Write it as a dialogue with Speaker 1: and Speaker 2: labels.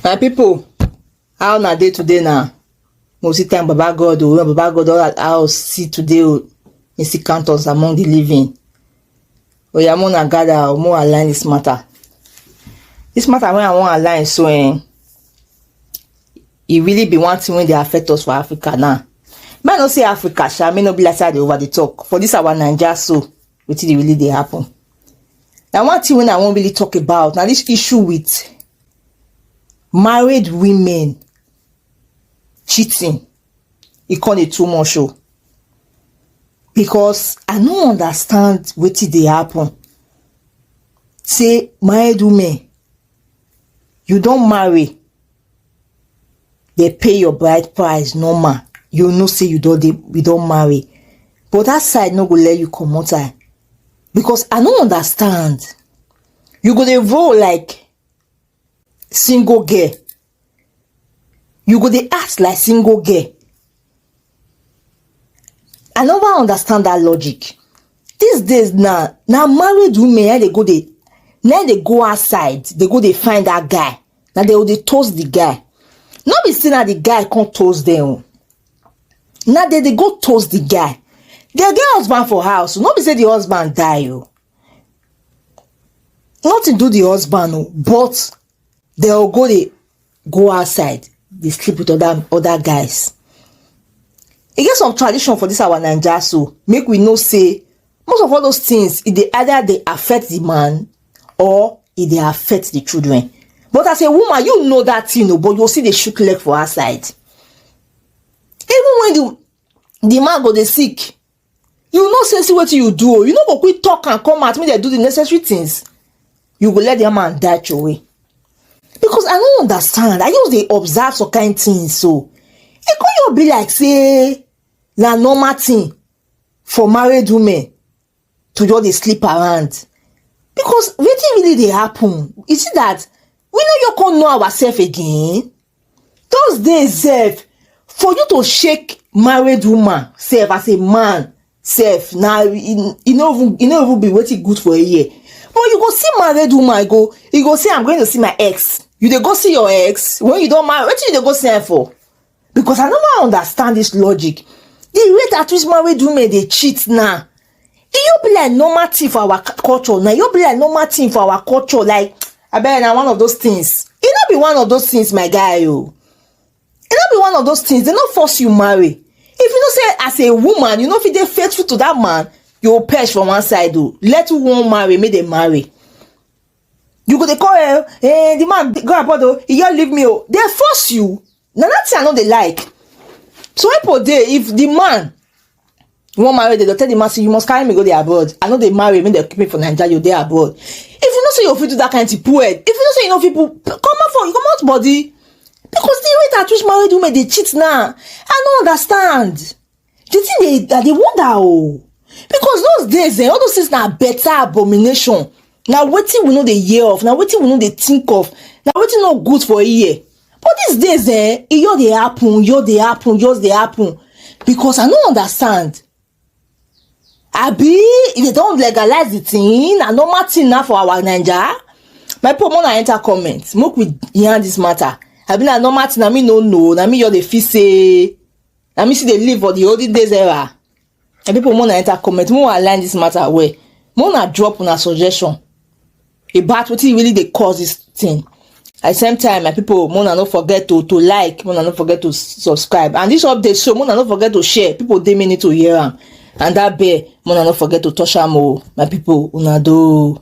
Speaker 1: my people, how na dey today na we see time baba god o when baba god don allow us see today o he still count us among the living oya mo na gather o mo align this matter this matter wey i wan align so eh e really be one thing wey dey affect us for africa now make i no say africa sha make no be like say i dey over dey talk for this our naija so wetin dey really dey happen na one thing wey i wan really talk about na this issue with married women cheating e con dey too much o because I no understand wetin dey happen say married women you don marry dey pay your bride price normal you know say you don dey you don marry but that side no go let you comot eye because I no understand you go dey roll like single girl you go dey act like single girl i never understand that logic these days na na married women na dey go dey na dey go outside dey go dey find that guy na dey go dey toast the guy no be say na the guy come toast them o na dey dey go toast the guy dem get husband for house no be say the husband die o nothing do the husband o but they'll go they go outside they sleep with other other guys e get some tradition for this our naija so make we know say most of all those things e dey either dey affect the man or e dey affect the children but as a woman you know that thing o but you still dey shook leg for outside even when the the man go dey sick you know say see wetin you do o you no go quick talk am come out make dem do the necessary things you go let the man die throway because i no understand i just dey observe some kind things so e come just be like say na normal thing for married women to just dey sleep around because wetin really dey happen you see that we no yet come know ourselves again Those days sef, for you to shake married woman sef as a man sef na e e no even e no even be wetin good for a year. But you go see married woman go, you go say I'm going to see my ex. You dey go see your ex when you don marry, wetin you dey go see am for? Because I no wan understand this logic. The rate at which married women dey cheat now, e just be like normal thing for our culture na e just be like normal thing for our culture like abeg na one of those things e no be one of those things my guy o oh. e no be one of those things dem no force you marry if you know say as a woman you no fit dey faithful to that man you go perish for one side o oh. let who wan marry make dem marry you go dey call eh eh the man go abroad o oh. he just leave me o dey force you na that thing i no dey like so when people dey if the man wan marry dem go tell the man say you must carry me go dey abroad i no dey marry make dem keep me for naija you dey abroad if you know say you fit do that kind thing poor if you know say you no fit put comot for comot body because the rate at which married women dey cheat now i no understand. the thing dey that dey wonder oh because those days eh all those things na better abomination na wetin we no dey hear of na wetin we no dey think of na wetin no good for ear but these days eh e just dey happen just dey happen just dey happen because i no understand abi if they don legalize the thing na normal thing na for our naija my people make una enter comment make we yarn this matter abi na normal thing na me no know na me just dey feel say na me still dey live for the olden days era and people more na enter comment more align this matter well more na drop una suggestion about wetin really dey cause this thing at the same time my people more na no forget to to like more na no forget to subscribe and this update show more na no forget to share people dey mean to hear am and that bell more na no forget to touch am o my people una do.